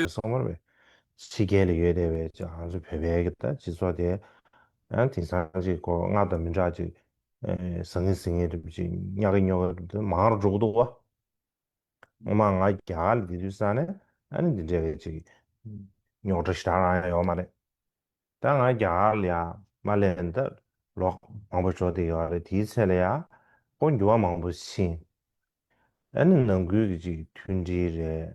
ལ་སོགས་མར་བའི་ཕྱི་རྒྱལ་ལ་ཡོད་དེ་བས་ཀྱང་ང་ཚོ་བོད་པའི་སྤྱི་ཚོགས་དེ་ཡང་དེང་སང་གི་སྐོར་སྔར་དང་མི་འདྲ་ཅིག་ཟང་ངེ་ཟིང་ངེ་གྲུབ་ཅིག་རྙོག་གེ་རྙོག་གེ་གྲུབ་དེ་མང་རུ་འགྲོ་གི་འདུག་བ། ངོ་མ་ང་རྒྱ་གར་ལ་འདི་དུས་ས་ནས་ཨ་ནི་འདི་འདྲ་བའི་ཅིག་རྙོག་གྲ་ཞེ་དྲག་རང་ཡང་ཡོད་མ་རེད། ད་ང་རྒྱ་གར་ལ་ཡང་མ་ལས་ན་ད་ལོག་མང་པོ་ཞོག་དེ་ཡོད་རེད་དེའི་ཚེ་ལ་ཡང་སྐོར་འགྱུར་བ་མང་པོ་ཕྱིན། ཨ་ནི་ནང་ཁུལ་གྱི་ཅིག་མཐུན་སྒྲིལ་རེད།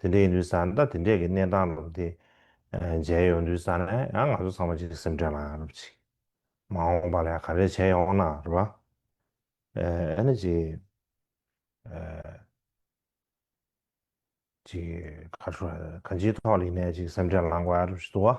དེ་འདྲའི་ཡིན་དུས་ཟ་ན་དེ་འདྲས་ཀྱི་གནས་སྟངས་ལབ་དེ་མཇལ་ཡོང་དུས་ཟ་ན་ཡང་ང་ཚོ་ཚང་མ་གཅིག་སེམས་ཁྲལ་ལ་རུབ་ཅིག། མ་འོངས་པ་ལ་ཡང་ག་རེ་བྱས་ཡོང་ན་རུ་བ། ཨེ་ན་ཅིག། ཅིག་ག་ཁྲུ་ག་འཇིག་ཐོག་ལིག་ནས་ཅིག་སེམས་ཁྲལ་ལངས་དགོས་ཨ་རུ་བཞི་དུ་བ།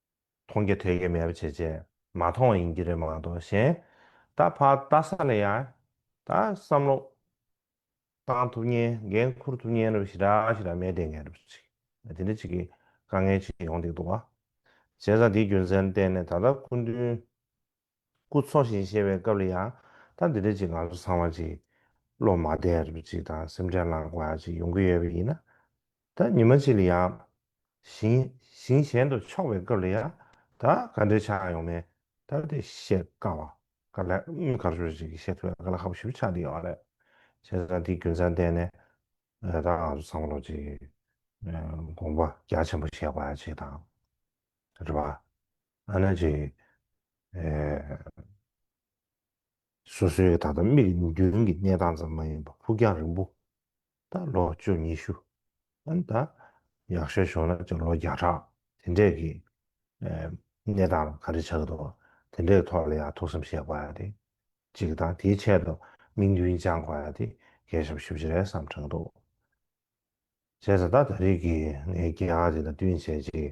མཐོང་གི་ཐོས་ཀྱི་མེད་པ་བྱེད་བྱེད་མ་མཐོང་བ་ཡིན་གྱི་རེད་མ་གཏོགས་གཞན་ད་བར་ལྟ་ས་ལ་ཡང་ད་བསམ་བློ་བཏང་ཐུབ་ཉེན་འགན་འཁུར་ཐུབ་ཉེན་རེ་བ་ཞིག་འདྲ་ཞིག་ལ་མེད་བསྡད་མཁན་རེ་བ་ཞིག་དེ་འདྲ་ཞིག་གི་དཀའ་ངལ་ཅིག་ཡོང་སྡད་འདུག་བ། བྱས་ཙང་དེའི་རྒྱུ་མཚན་བསྟན་ནས་ད་ལྟ་སྐུ་མདུན་སྐུ་འཚོ་ཞིང་གཤེགས་པའི་སྐབས་ལ་ཡང་ད་འདི་འདྲ་ཅིག་ང་ཚོ་ཚང་མ་ཅིག་བློ་མ་བདེ་རུ་ཅིག་དང་སེམས་ཁྲལ་བསླང་དགོས་ཡ་ཅིག་ཡོང་གི་ཡོད་པ་ཡིན་ན། ད་ཉི་མ་ཅིག་ལ་ཡང། ཞིང་ཞིང་གཞན་དུ་ཕྱོགས་པའི་སྐབས་ལ་ཡང་ད་ག་འདྲས་ཆགས་ཡོང་མིན་ད་དེ་བཤད་དཀའ་བ་ག་ལ་ག་ཞུ་ཅིག་བཤད་ཐུབ་ཡ་ག་ལ་ཧ་པོ་ཞུ་ཆགས་འདི་ཡོད་རེད། བྱས་ཙང་དེའི་རྒྱུ་མཚན་བསྟན་ནས་ད་ང་ཚོ་ཚང་མ་ལོ་ཅིག་དགོངས་པ་རྒྱ་ཆེན་པོ་བཞེས་དགོས་ཡ་ཅིག་དང། རེད་པ། ཨ་ན་ཅི། སོ་སོའི་གི་ད་ལྟ་མིག་ནུབ་རྒྱུན་གྱི་གནས་སྟངས་ཙམ་མ་ཡིན་པ་ཕུགས་རྒྱང་རིང་པོ། ད་ལོ་བཅུ་ཉི་ཤུ། ཨ་ན་ད་ཡག་ཤོས་བྱུང་ན་ལོ་བརྒྱ་ཕྲག་དེ་འདྲས་ཀྱི་གནས་སྟངས་ལ་ག་རེ་བྱ་གི་འདུག་དེ་འདྲའི་ཐོག་ལ་ཡང་ཐུགས་བསམ་བཞེས་དགོས་ཡ་དེ་གཅིག་དང་དེའི་ཆེད་དུ་དམིགས་འདུན་བཅང་དགོས་ཡ་དེ་གས་ཞབས་ཞུ་བྱེད་རེས་བསམ་དྲག་འདུག་བྱས་ཙང་ད་ད་རིགས་ཀྱི་ངའི་རྒྱལ་ཁ་དེ་དང་བསྟུན་བྱས་རྗེས